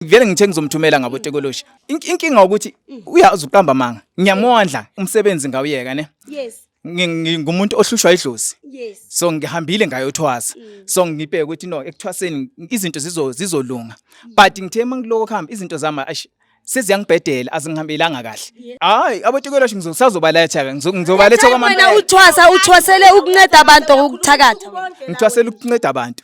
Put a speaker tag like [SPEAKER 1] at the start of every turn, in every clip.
[SPEAKER 1] vele ngithe ngizomthumela ngabo tekoloshi inkinga ukuthi uyazi uqamba manga ngiyamondla umsebenzi ngawuyeka ne yes
[SPEAKER 2] ngingumuntu
[SPEAKER 1] ohlushwa idlozi yes so
[SPEAKER 2] ngihambile
[SPEAKER 1] ngayothwasa mm. so ngibheke ukuthi no ekuthwaseni izinto zizo zizolunga mm. but ngithe mangiloko khamba izinto zami seziyangibhedela azingihambelanga kahle hayi abotikwelosho ngizosazobaletha ke ngizobaletha kwamanje wena uthwasa uthwasele
[SPEAKER 2] ukunceda abantu ukuthakatha ngithwasele ukunceda
[SPEAKER 1] abantu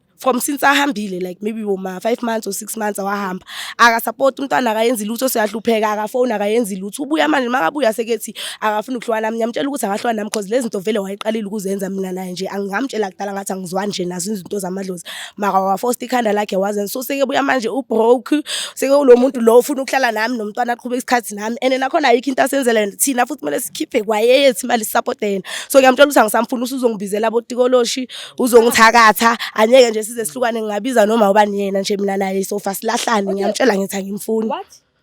[SPEAKER 3] from since ahambile like maybe woma 5 months or 6 months awahamba akasupport umntwana akayenzi lutho siyahlupheka akafona akayenzi lutho ubuya manje makabuya sekethi akafuna ukuhlwana nami ngiyamtshela ukuthi akahlwana nami because lezi zinto vele wayiqalile ukuzenza mina naye nje angingamtshela kudala ngathi angizwani nje nazo izinto zamadlozi maka wafosta ikhanda lakhe wazenza so seke buya manje ubroke seke ulo muntu lo ufuna ukuhlala nami nomntwana aqhubeka isikhathi nami and nakhona ayikho into asenzela thina futhi kumele sikhiphe kwayeyethi imali support yena so ngiyamtshela ukuthi angisamfuni usuzongibizela botikoloshi uzongithakatha anyeke nje size sihlukane ngingabiza noma ubani yena nje mina naye sofa silahlane ngiyamtshela ngithi angimfuni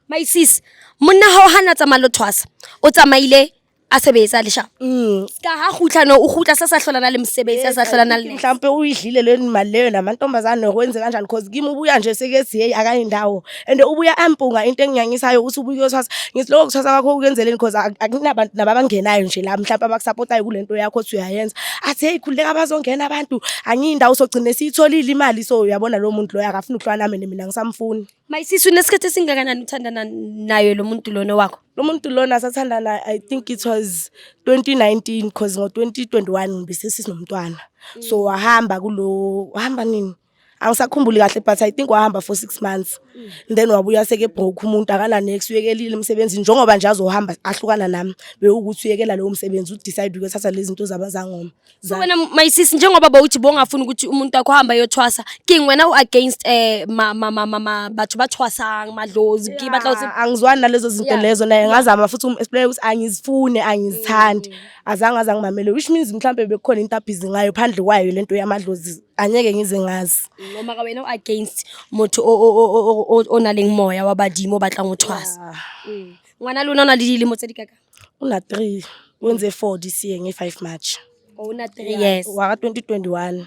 [SPEAKER 3] my
[SPEAKER 2] sis monna ha o hana tsamaya lo thwasa o tsamaile a sebetsa lesha mm. ka ha gutla no o gutla sa sa hlolana le mosebetsi a sa hlolana le mhlampe o idlile le
[SPEAKER 3] mali leyo namantombazane kwenze kanjani because kimi ubuya nje sekethi hey akayi ndawo and ubuya ampunga into enginyanyisayo ukuthi ubuye uyothwasa ngithi lokho kuthwasa kwakho ukwenzeleni because akunabantu nababangenayo nje la mhlawumbe abakusapotayo kule nto yakho othi uyayenza athi heyi khululeka bazongena abantu angiyindawo sogcine siyitholile imali so uyabona lo muntu loyo akafuni ukuhlwa nami mina ngisamfuni mayisisu nesikhathi
[SPEAKER 2] esingakanani uthandana nayo lo muntu lona wakho lo muntu lona
[SPEAKER 3] sathandana i think it was 2019 because ngo-2021 besesinomntwana so wahamba kulo wahamba nini angisakhumbuli kahle but i think wahamba for six months mm. then wabuya sekebroke umuntu akananex uyekelile emsebenzini njengoba nje azohamba ahlukana nami bewukuthi uyekela lowo msebenzi udecide ukuthatha lezi zinto zabazangoma so wena my
[SPEAKER 2] sis njengoba bawuthi bongafuni ukuthi umuntu wakho hamba yothwasa king wena uagainst eh ma ma ma ma bathu bathwasa madlozi ki batla uthi angizwani nalezo zinto
[SPEAKER 3] lezo naye ngazama futhi umexplain ukuthi angizifune angizithandi mm. azange azangimamele which means mhlambe bekukhona into abhizi ngayo phandle kwayo lento yamadlozi angeke ngize ngazi noma ka wena
[SPEAKER 2] against motho o na leng moya wa badimo o batlang o tshwasa ah. mm. ngwana lona o na le dilemo tse di kaka o na three
[SPEAKER 3] o ntse four this year nge five march o na three
[SPEAKER 2] years wa ka twenty
[SPEAKER 3] twenty one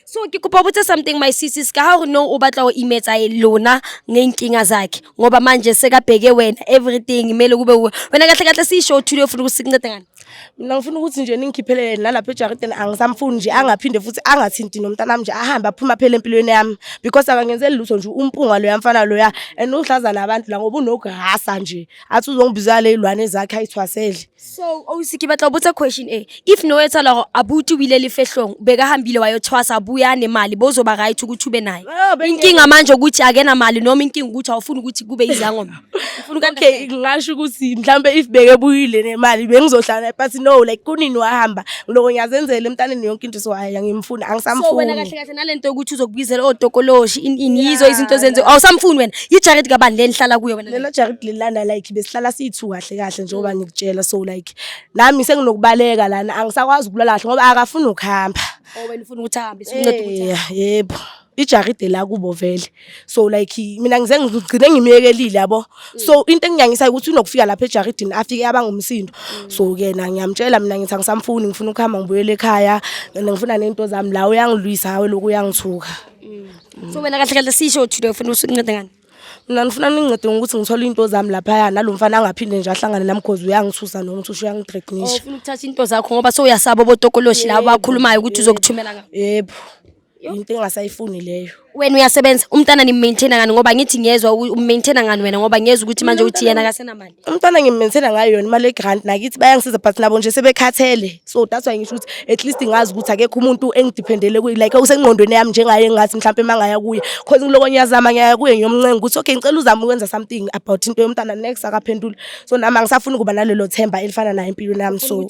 [SPEAKER 3] so ke
[SPEAKER 2] kopa botse something my sisis ka ha gore no o batla go imetsa e lona ngeenkinga zakhe ngoba manje sekabheke wena everything kumele kube wena kahle kahle siyisho othule ofuna ukusinceda ngani mina ngifuna ukuthi nje
[SPEAKER 3] ningikhiphele yena nalapha ejaridini angisamfuni nje angaphinde futhi angathinti nomntana wami nje ahambe aphuma phela empilweni yami because akangenzeli lutho nje umpunga loya mfana loya and uhlaza nabantu la ngoba unogahasa nje athi uzongibizala izilwane zakhe ayithwasele so ausi ke
[SPEAKER 2] batla botsa question e if no etsa la abuti wile le fehlong beka hambile wayothwasa buya nemali bozoba right ukuthi ube naye inkinga manje ukuthi akena mali noma inkinga ukuthi awufuni ukuthi kube izangoma ufuna okay ngingasho ukuthi
[SPEAKER 3] mhlambe if beke buyile nemali bengizohlala but no like kunini wahamba ngiloko ngiyazenzela emntaneni yonke into so hayi ngimfuna angisamfuni so wena kahle kahle
[SPEAKER 2] nalento ukuthi uzokubizela odokoloshi in in yizo izinto zenze awusamfuni wena yi jacket kabani le nihlala kuyo wena lelo jacket lilana like
[SPEAKER 3] besihlala sithu kahle kahle njengoba mm. ngikutshela so like nami senginokubaleka lana angisakwazi ukulala kahle ngoba akafuni ukuhamba oh wena ufuna ukuthi
[SPEAKER 2] ahambe sincede ukuthi yebo
[SPEAKER 3] ijaride la kubo vele so like mina ngize ngigcine ngimyekelile yabo so into enginyangisayo ukuthi unokufika lapha ejaridini afike abangumsindo so kena ngiyamtshela mina ngithi angisamfuni ngifuna ukuhamba ngibuyele ekhaya ngifuna nento zami la uyangilwisa hawe lokhu
[SPEAKER 2] uyangithuka mm.
[SPEAKER 3] so
[SPEAKER 2] wena kahle kahle sisho
[SPEAKER 3] uthi
[SPEAKER 2] ufuna usincede ngani mina
[SPEAKER 3] ngifuna ningincede ngokuthi ngithole into zami laphaya nalo mfana angaphinde nje ahlangane nami cause uyangithusa noma uthi usho uyangithreatnisha oh, ufuna ukuthatha into zakho
[SPEAKER 2] ngoba sewuyasaba obotokoloshi la bakhulumayo ukuthi uzokuthumela ngabo yebo
[SPEAKER 3] into engasayifuni leyo wena uyasebenza
[SPEAKER 2] umntana nimaintaina ngani ngoba ngithi ngiyezwa umaintaina ngani wena ngoba ngiyezwa ukuthi manje uthi yena akasenamali umntana ngimaintaina ngayo
[SPEAKER 3] yona imali yegrant nakithi bayangisiza but nabo nje sebekhathele so that's why ngisho ukuthi at least ngazi ukuthi akekho umuntu engidependele kuye like usengqondweni yami njengaye ngathi mhlawumpe mangaya kuye cause ngiloko ngiyazama ngiyaya kuye ngiyomncenga ukuthi okay ngicela uzame ukwenza something about into yomntana next akaphendula so nami angisafuni ukuba nalelo themba elifana naye empilweni yami so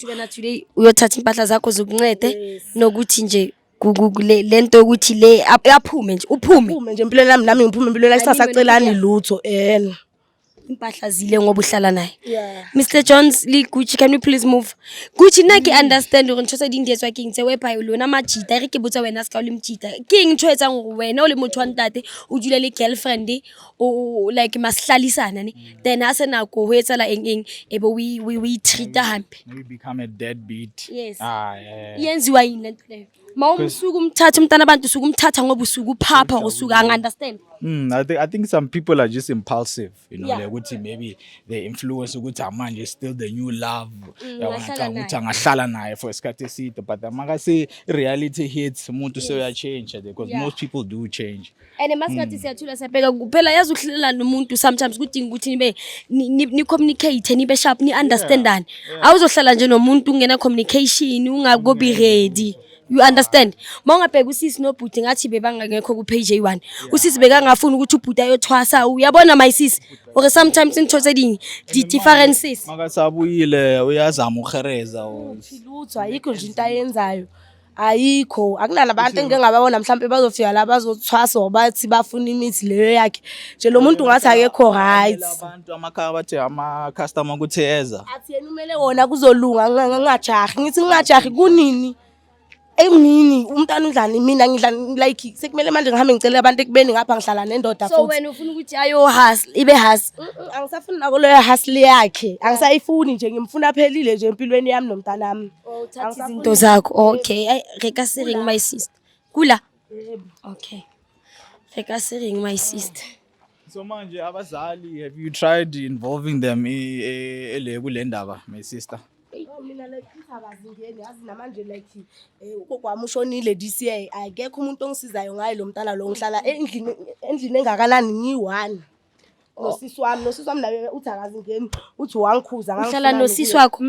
[SPEAKER 2] uyothatha impahla zakho zokuncede nokuthi nje ku- ku- kule- le nto yokuthi le ap- aphume nje uphume Uphume nje empilweni yami nami ngiphume
[SPEAKER 3] empilweni yakhe sasacelani lutho en. impahla
[SPEAKER 2] zile ngoba uhlala naye Yeah. mr jones
[SPEAKER 3] le
[SPEAKER 2] gucci can we please move gucci nna ke understand gore ntho tse di ndietswa keng tse wepa lona majita e re ke botsa wena se ka o le mojita keng ntho e etsang gore wena o le motho wa ntate o dula le girlfriend o like masihlalisana ne mm. then a se nako ho etsala eng eng e be we we we treat hampe you become a dead
[SPEAKER 1] beat yes ah yeah
[SPEAKER 2] yenziwa
[SPEAKER 1] yini lento
[SPEAKER 2] leyo ma umsuku umthatha umntana abantu usuku umthatha ngoba usuku phapha usuku ang understand Mm, I think I think
[SPEAKER 1] some people are just impulsive, you know, yeah. like ukuthi maybe they influence ukuthi amanje is still the new love. Mm, Yawacanga ukuthi
[SPEAKER 2] angahlala
[SPEAKER 1] naye for isikhathi eside but maka se reality hits umuntu yes. so ya change because yeah. most people do change. and masingathi hmm.
[SPEAKER 2] siyathula siyabheka kuphela yazi ukuhlelelana nomuntu sometimes kudinga ukuthi nibe ni-communicate nibe sharp ni-understandane awuzohlala nje nomuntu ungena communication ungakobi hmm. ready you understand uma ungabheka usisi nobhuti ngathi bebangangekho ku-page eyi-one usisi bekangafuni ukuthi ubhuti ayothwasa uyabona my sisi or sometimes into tse ding di-differences makasabuyile
[SPEAKER 1] uyazama uhereza lutho ayikho
[SPEAKER 3] nje into ayenzayo ayikho akunala bantu engike ngababona mhlawumbe bazofika la bazothwasa or bathi bafuna imithi leyo yakhe nje lo muntu ngathi akekho right abantu amakhaya bathi
[SPEAKER 1] ama-customer ukuthi eza athi yena umele wona
[SPEAKER 3] kuzolunga ngingajahi ngithi ngingajahi kunini emini umntana udlani mina ngidlani like sekumele manje ngihambe ngicela abantu ekubeni ngapha ngihlala nendoda so wena ufuna ukuthi ayo
[SPEAKER 2] hustle ibe hustle angisafuni nako leyo
[SPEAKER 3] hustle yakhe angisayifuni nje ngimfuna phelile nje empilweni yami nomntanami Oh, uthatha izinto
[SPEAKER 2] zakho okay ayi re ka se reng my sister kula okay re ka se reng my sister So manje
[SPEAKER 1] abazali have you tried involving them i- e- ele kule ndaba my sister? Oh, mina like
[SPEAKER 3] ithi abazingeni yazi namanje like eh, ugogo wami ushonile this year akekho umuntu ongisizayo ngaye lo mntana lo ngihlala endlini endlini engakanani ngiyi-one nosisi wami nosisi wami naye uthi akazingeni uthi wangikhuza uhlala nosisi wakho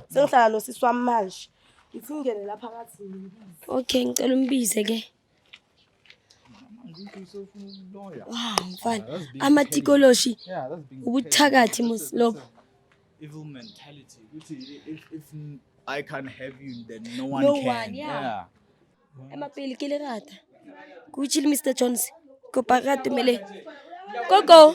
[SPEAKER 3] sengihlala nosisi wami manje ngithi ungene lapha ngathi okay ngicela
[SPEAKER 2] umbize ke ah, mfana amatikoloshi ubuthakathi lobo evil
[SPEAKER 1] mentality ukuthi if, if i can't have you then no one no can one, yeah. yeah.
[SPEAKER 2] emapeli ke le rata kuchile mr jones kopa rata mele gogo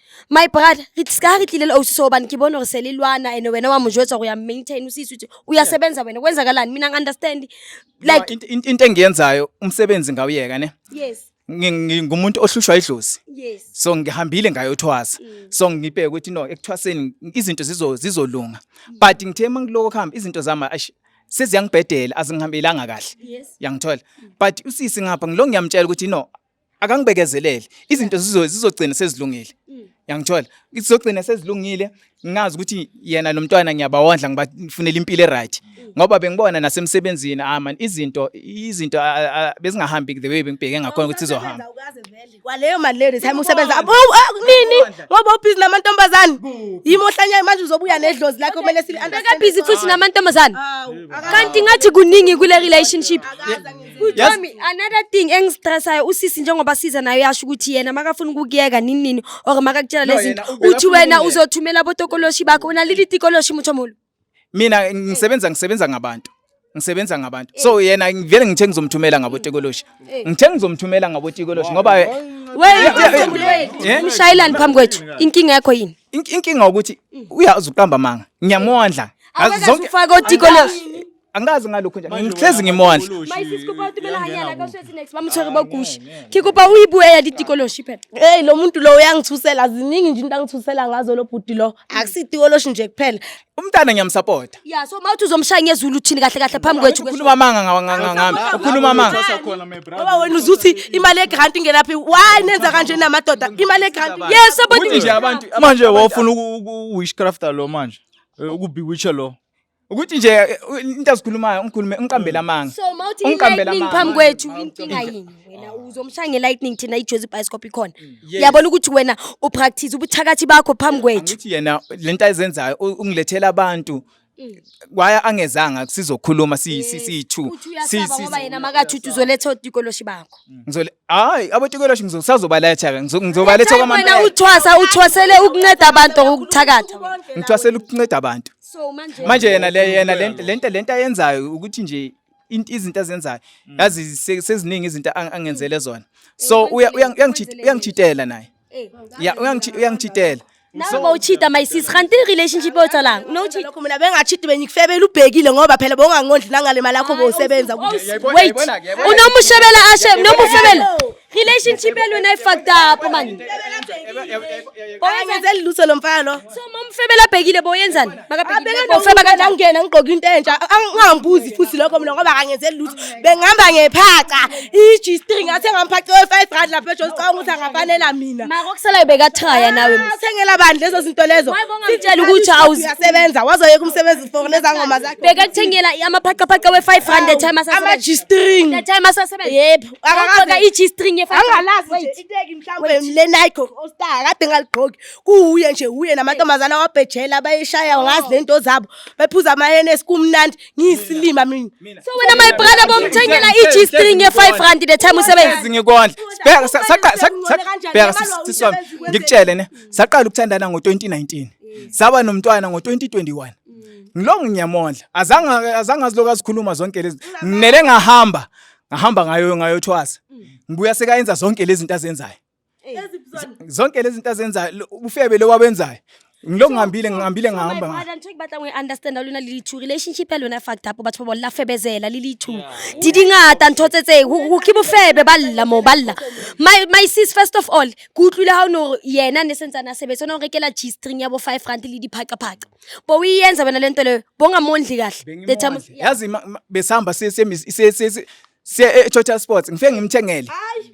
[SPEAKER 2] my brother re ska re tlile le ausi so hobane ke bone gore se le lwana and wena wa mo jwetsa gore ya maintain o se isutse o ya sebenza wena kwenzakalani mina ngi-understand like Int- int- into engiyenzayo
[SPEAKER 1] umsebenzi ngawuyeka ne yes Ngi-
[SPEAKER 2] ngi- ngumuntu
[SPEAKER 1] ohlushwa idlozi yes so ngihambile ngayothwasa so ngibheke ukuthi no ekuthwaseni izinto zizo- zizolunga but ngithe uma ngiloko kuhamba izinto zami ash seziyangibhedela azingihambelanga kahle yes yangithola
[SPEAKER 2] but
[SPEAKER 1] usisi ngapha ngilo ngiyamtshela ukuthi no akangibekezelele izinto zizo zizogcina sezilungile mm. yangithola izogcina sezilungile ngazi ukuthi yena nomntwana ngiyabawondla ngibafunela impilo eright mm. ngoba bengibona nasemsebenzini ah man izinto izinto bezingahambi the way bengibheke ngakhona ukuthi sizohamba kwaleyo
[SPEAKER 3] mali leyo time usebenza oh, oh, nini ngoba ubhizi namantombazane yimo ohlanya manje uzobuya nedlozi lakho kumele sili understand busy futhi
[SPEAKER 2] namantombazane kanti ngathi kuningi kule relationship Kujami another thing engistressayo usisi njengoba siza nayo yasho ukuthi yena makafuna ukukuyeka nini nini or makakutshela No, lezi yena zinto ubeka uthi funa wena ukuyeka. uzothumela abotokoloshi bakho unalili tikoloshi muthomolo mina
[SPEAKER 1] ngisebenza ngisebenza ngabantu ngisebenza ngabantu so yena ngivele ngithe ngizomthumela ngabotekoloshi ngithe ngizomthumela ngabotekoloshi ngoba eh, Yeah.
[SPEAKER 2] mshayelani phambi kwethu inkinga yakho yini ink- inkinga ukuthi
[SPEAKER 1] uyazi uqamba manga ngiyamondla Ngazo zonke- awekazufaka
[SPEAKER 2] otikoloshi Angikaze ngalokho
[SPEAKER 1] nje. Manje Ngihlezi wena ngimondla. abakoloshi, Mayisisi kuba uthi mina
[SPEAKER 2] uyangena anyala kubo. kasho ethi next bamthweke bogushi. Khikuba uyibuye yali tikoloshi phela. Hey lo muntu lo
[SPEAKER 3] uyangithusela ziningi nje into angithusela ngazo lo bhuti lo. Akusitikoloshi nje kuphela. Umntana ngiyamsupporta.
[SPEAKER 1] Yeah so mawuthi uzomshaya
[SPEAKER 2] ngezulu uthini kahle kahle phambi kwethu. Ukhuluma amanga nga- nga- nga-
[SPEAKER 1] ngami. Ukhuluma amanga. Sasa khona my brother. Ngoba wena
[SPEAKER 3] uzuthi imali yegrant ingenaphi. Why nenza kanje namadoda? Imali yegrant. Yes Ukuthi nje abodi.
[SPEAKER 2] abantu Manje
[SPEAKER 1] wofuna uku-
[SPEAKER 4] uku- witchcrafter lo manje. Eh, Ukubewitcha lo. ukuthi nje
[SPEAKER 1] eh, into azikhulumayo ungikhulume ungiqambela mm. amanga so mawuthi ungiqambela
[SPEAKER 2] amanga phambi kwethu inkinga yini wena ah. uzomshaya ngelightning thina ijozi bioscope ikhona mm. uyabona ukuthi wena upractice ubuthakathi bakho phambi kwethu ngithi yena lento
[SPEAKER 1] ayizenzayo ungilethela abantu mm. waya angezanga sizokhuluma siyi-two ngoba yena
[SPEAKER 2] makathuthi uzoletha otikoloshi bakho hayi
[SPEAKER 1] abotikoloshi ngizosazobaletha-ke ngizobaletha wena uthwasa uthwasele
[SPEAKER 2] ukunceda abantu ngokuthakatha ngithwasele ukunceda
[SPEAKER 1] abantu so manje manje
[SPEAKER 2] yena le
[SPEAKER 1] yena lento lento lento ayenzayo ukuthi nje into izinto azenzayo mm. yazi seziningi izinto angenzele mm. zona eh, so uyangijitela naye eh, ya uyangijitela nawe
[SPEAKER 2] bawuchita my sis kanti relationship othalang unochita lokho mina bengachita
[SPEAKER 3] benyikufebela ubhekile ngoba phela bongangondli nangale mali yakho bowusebenza wait
[SPEAKER 2] unomushebela ashe unomufebela relationship yalona i fucked up man Oyenzeli
[SPEAKER 3] lutho lo mfana lo. so mamfebela abhekile
[SPEAKER 2] boyenzani makabhekile bofeba kanjani Ngangena
[SPEAKER 3] ngigqoka into entsha angambuzi futhi lokho mina ngoba akangenzeli lutho. Bengihamba ngephaca. I-G-string athe ngamphaca we-5 rand lapha eJohn Cong ukuthi angafanela mina. maka okusalayo bekathaya
[SPEAKER 2] nawe Ah, Uthengela bani lezo
[SPEAKER 3] zinto lezo? Why bongamtshela ukuthi
[SPEAKER 2] awuzi- uyasebenza wazoyeka
[SPEAKER 3] umsebenzi for lezangoma zakhe. bekakuthengela amaphaqaphaqa
[SPEAKER 2] we-5 rand the time Ama asasebenza G-string.
[SPEAKER 3] the time asasebenza
[SPEAKER 2] Yep. akakaze
[SPEAKER 3] i-G
[SPEAKER 2] string efana angalazi nje iteki
[SPEAKER 3] mhlawumbe le Nike All Star kade ngaligqoki kuwuye nje uye namantombazana wabhejela bayishaya ngazi lento zabo bephuza ama NS kumnandi ngiyisilima mina so wena my brother
[SPEAKER 2] bomthengela i-G string ye 5 rand the time usebenza ngikondla
[SPEAKER 1] sibheka saqala sisona ngikutshele ne saqala ukuthandana ngo 2019 saba nomntwana ngo 2021 ngilongo ngiyamondla azange azange aziloku azikhuluma zonke lezi nginele ngahamba ngahamba ngayo ngayothwasa mm. ngibuya sekayenza zonke lezi zinto azenzayo zonke lezi zinto azenzayo ufebe lo wabenzayo ngilo ngihambile ngihambile ngihamba ngala nje ngibatla ngi understand
[SPEAKER 2] lona lili two relationship lona fucked up batho babo lafebezela lili two didi ngata nthotsetse ku khibu febe balla mo balla my my sis first of all ku utlwile ha no yena ne sentsana sebetsa no rekela g string ya bo 5 rand le diphaqa phaqa bowuyiyenza wena lento leyo bongamondli kahle the time Bengimondle. yazi ima- ima- besihamba
[SPEAKER 1] siye siye mis- siye- siye- siye- siye e-total sports ngifike ngimthengele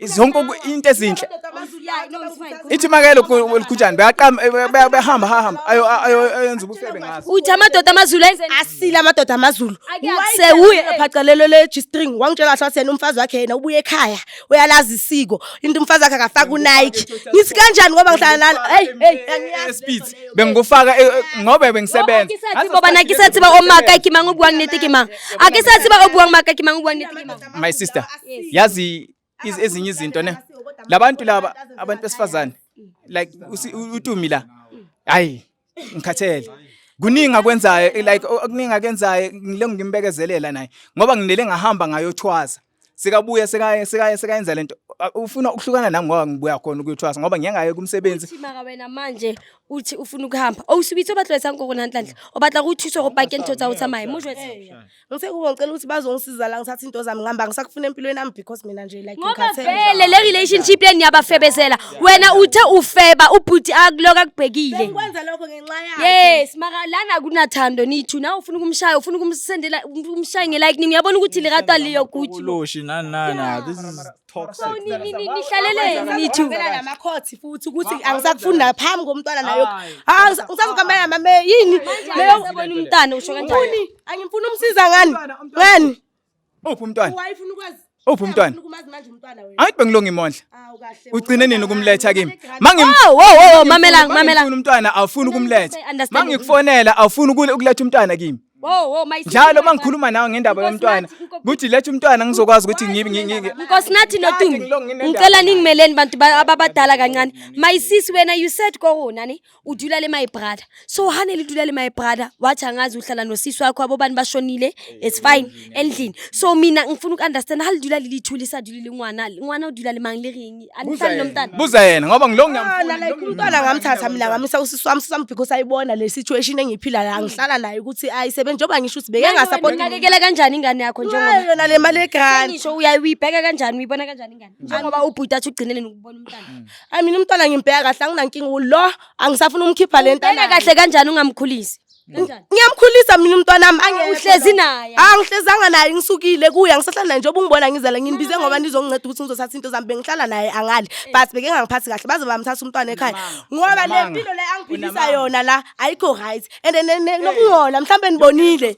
[SPEAKER 1] zonke oku- into ezinhle ithi makelo likhutshani beyaqama eh, be- be- behamba hahamba ayo- ayo- ayenza ubufebe ngazo uthi amadoda amazulu
[SPEAKER 2] enze asile amadoda amazulu
[SPEAKER 3] Akuyase sewuye kuye.
[SPEAKER 2] ephacelelo
[SPEAKER 3] le-g-string wangitshela kahle wathi yena umfazi wakhe yena ubuye ekhaya uyalazi isiko into umfazi wakhe akafaki unike ngithi kanjani ngoba ngihlala nani heyi heyi angiyazi. Speed.
[SPEAKER 1] bengikufaka eh, eh, ngoba bengisebenza boba na ke sa
[SPEAKER 2] tseba o maka ke mang o buang nete ke mang a ke sa tseba o buang maka ke mang o buang nete ke mang my sister
[SPEAKER 1] yazi ezinye izinto ne labantu laba abantu besifazane like utumi la hayi ngikhathele kuningi akwenzayo like okuningi akenzayo ngile ngimbekezelela naye ngoba nginele ngahamba ngayothwaza sekabuya sekaye sekaye sekayenza lento ufuna ukuhlukana nami ngoba ngibuya khona ukuyothwasa ngoba ngeke ngaye kumsebenzi uthi maka wena manje
[SPEAKER 2] uthi ufuna ukuhamba awusubithe obatlwesa ngoko nanhlanhla obatla kuthuswa kopake into tsa utsamaye mujwe ngise kubo ngicela ukuthi
[SPEAKER 3] bazongisiza la ngithatha into zami ngihamba ngisakufuna empilweni yami because mina nje like ngoba vele le
[SPEAKER 2] relationship le niyabafebezela wena uthe ufeba ubhuti akuloka kubhekile ngikwenza lokho ngenxa
[SPEAKER 3] yakhe yes maka lana
[SPEAKER 2] akunathando nithu nawe ufuna ukumshaya ufuna ukumsendela ukumshaya ngelightning uyabona ukuthi likatwa liyo guthi loshi nani
[SPEAKER 4] nani this is toxic nihlaleleni
[SPEAKER 2] nithu namakhothi futhi
[SPEAKER 3] ukuthi angisakufunda phambi komntwana nayo ah ngisazokuhambela mama yini leyo ubona umntana usho
[SPEAKER 2] kanjani angimfuni umsiza
[SPEAKER 3] ngani ngani Uphi
[SPEAKER 1] umntwana? Wayefuna ukwazi. Uphi
[SPEAKER 3] umntwana? Ufuna
[SPEAKER 1] ukumazi manje umntwana
[SPEAKER 3] wena. Ayi bengilunga imondla.
[SPEAKER 1] Awu kahle. Ugcine
[SPEAKER 3] nini ukumletha
[SPEAKER 1] kimi? Mangi Wo wo wo
[SPEAKER 2] mamela mamela. Ufuna umntwana awufuni
[SPEAKER 1] ukumletha. I understand. Mangikufonela
[SPEAKER 2] awufuni
[SPEAKER 1] ukule- ukuletha umntwana kimi. Wo wo my Njalo
[SPEAKER 2] mangikhuluma nawe
[SPEAKER 1] ngendaba Nkosi yomntwana. nathi, inkosi- Kuthi letha umntwana ngizokwazi ukuthi ngibe ngi- ngi- ngi- Nkosi nathi
[SPEAKER 2] Kade noTumi. ngilonge nendaba Ngicela naye. ningimeleni bantu ba- ababadala kancane. My sis wena you said ko wona ni. udula le my brother so hane lidula le my brother wathi angazi uhlala nosisi wakho abobani bashonile it's fine endlini so mina ngifuna uku-understand halidula lilithuli isadulile ingwana ingwana udula le mangi liringi anihlali nomntana buza yena ngoba ngilo
[SPEAKER 1] ngiyamufunala ikhulu umntwana
[SPEAKER 3] ngamthatha mina ngamisa usisi wami sisami because ayibona le situation engiphila la ngihlala naye ukuthi ayisebenzi njengoba ngisho ukuthi beke ngasapoti unakekela kanjani ingane
[SPEAKER 2] yakho njengoba yona le mali egrant
[SPEAKER 3] ngisho uyayibheka
[SPEAKER 2] kanjani uyibona kanjani ingane njengoba ubhuti athi ugcineleni ukubona umntana mm. ayi mina umntwana
[SPEAKER 3] ngimbheka kahle anginankinga ulo angisafuna umkhipha le ntana kahle kanjani ungamkhulisi
[SPEAKER 2] mm. ngiyamkhulisa mina umntwana
[SPEAKER 3] wami uhlezi naye
[SPEAKER 2] angihlezanga naye
[SPEAKER 3] ngisukile kuye angisahlala naye njengoba ungibona ngizala nginibize ngoba ndizokunceda ukuthi ngizothatha into zami bengihlala naye angali eh. but beke ngangiphathi kahle baze bamthatha umntwana ekhaya ngoba le mpilo le angiphilisa yona la ayikho right and nokungola mhlawumbe nibonile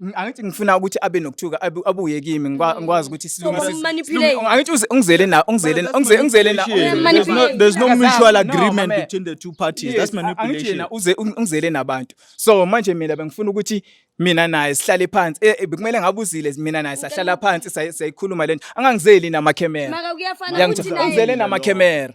[SPEAKER 4] Ng- angithi ngifuna
[SPEAKER 1] ukuthi abe nokuthuka abu- abuye kimi ngikwa- ngikwazi ukuthi So, silungise- uyamumanipulate. silungi-
[SPEAKER 2] angithi uze- ungizele
[SPEAKER 1] na ungizele na- ungizele ungizele na There's no, Manipulate.
[SPEAKER 4] there's no Akazazi, mutual no, agreement mama. between the two parties. That's Yes, a- angithi manipulation. yena uze ung- ungizele nabantu
[SPEAKER 1] so manje mina bengifuna ukuthi mina naye sihlale phansi Eh, eh, bekumele ngabe uzile mina naye sahlala phansi say- sayikhuluma lento angangizeli namakhemera Maka kuyafana Uyangithola?
[SPEAKER 2] ukuthi naye- ungizele namakhemera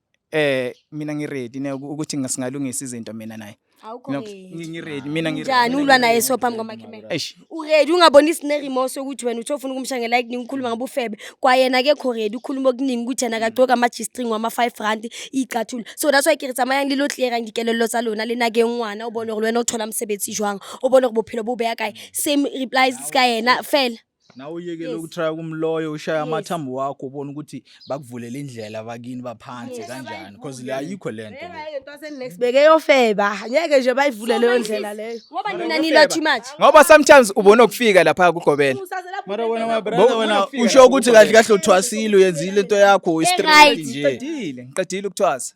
[SPEAKER 1] eh mina ngi ready ne ukuthi ngasingalungisa izinto mina naye awukho No, ready. ngi ngi ready mina ngi njani ulwa naye so
[SPEAKER 2] phambi kwamakhamera Eish. uredi ungaboni sinerimosi yokuthi wena uthi ofuna ukumshangela ekuningi ukhuluma ngabufebe kwayena kekho redi ukhuluma okuningi ukuthi yena kagcoka ama-g-string wama-five rand iyicathulo so that's why ke re tsamayang le lo tlera dikelello tsa lona le nake ngwana o bone gore le wena o thola mosebetsi jwang o bone gore bophelo bo beya kae same replies ka yena fela nawe uyekele Yes.
[SPEAKER 4] ukutrya kumloyo ushaya Yes. amathambo wakho ubona ukuthi bakuvulele indlela bakini baphansi Yes. kanjani because le ayikho le nto le. sibeke
[SPEAKER 3] yofeba ngeke nje bayivule leyo ndlela leyo Ngoba nina nila too
[SPEAKER 2] much. ngoba sometimes ubona
[SPEAKER 1] ukufika lapha kugobela Mara wena my brother
[SPEAKER 4] Bo- wena ufika usho ukuthi kahle kahle uthwasile uyenzile into yakho Right. uyistraight nje ngiqedile ngiqedile ukuthwasa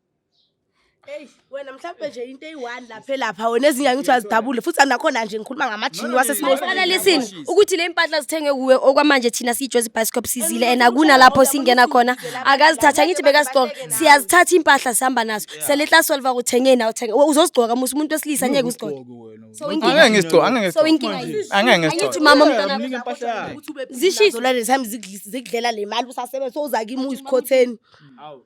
[SPEAKER 1] Hey wena
[SPEAKER 3] mhlawumbe nje into eyi-1 lapha elapha wena ezinye angithi azidabule futhi anakhona nje ngikhuluma ngamajini wasesimosana listen
[SPEAKER 2] ukuthi le mpahla zithenge kuwe okwamanje thina siyijozi bicycle sizile and akunalapho singena khona akazithatha ngithi bekazigcoka siyazithatha impahla sihamba nazo seletla solva kuthenge nawo thenge uzozigcoka musa umuntu wesilisa ngeke uzigcoke so inkinga angeke ngizigcoke angeke
[SPEAKER 1] ngizigcoke
[SPEAKER 2] so inkinga angeke
[SPEAKER 4] ngizigcoke angithi mama umntana
[SPEAKER 3] zishizo lale sami zikudlela le mali usasebenza so uzakimu isikhotheni awu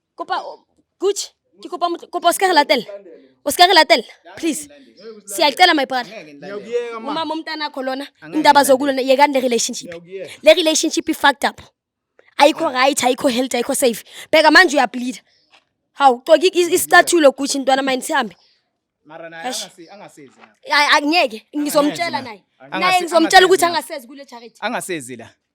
[SPEAKER 2] kopa gucci ke kopa motho- kopa o se ka re latella o se ka re latella please siyacela my brother Ngiyakuyeka ma. umama umntanakho lona Angeke indaba ngilande. zokulona yekani le relationship Ngiyakuyeka. le relationship i-fucked up ayikho right ayikho healthy ayikho safe bheka manje uyableeda hawu coki i- isicathulo gushi ntwana mine sihambe Mara naye
[SPEAKER 1] Eish. angasi- angasizi lapha. Ay- angeke
[SPEAKER 2] ngizomtshela naye Angase- naye ngizomtshela ukuthi angasezi. angasezi kule charity Angasezi la.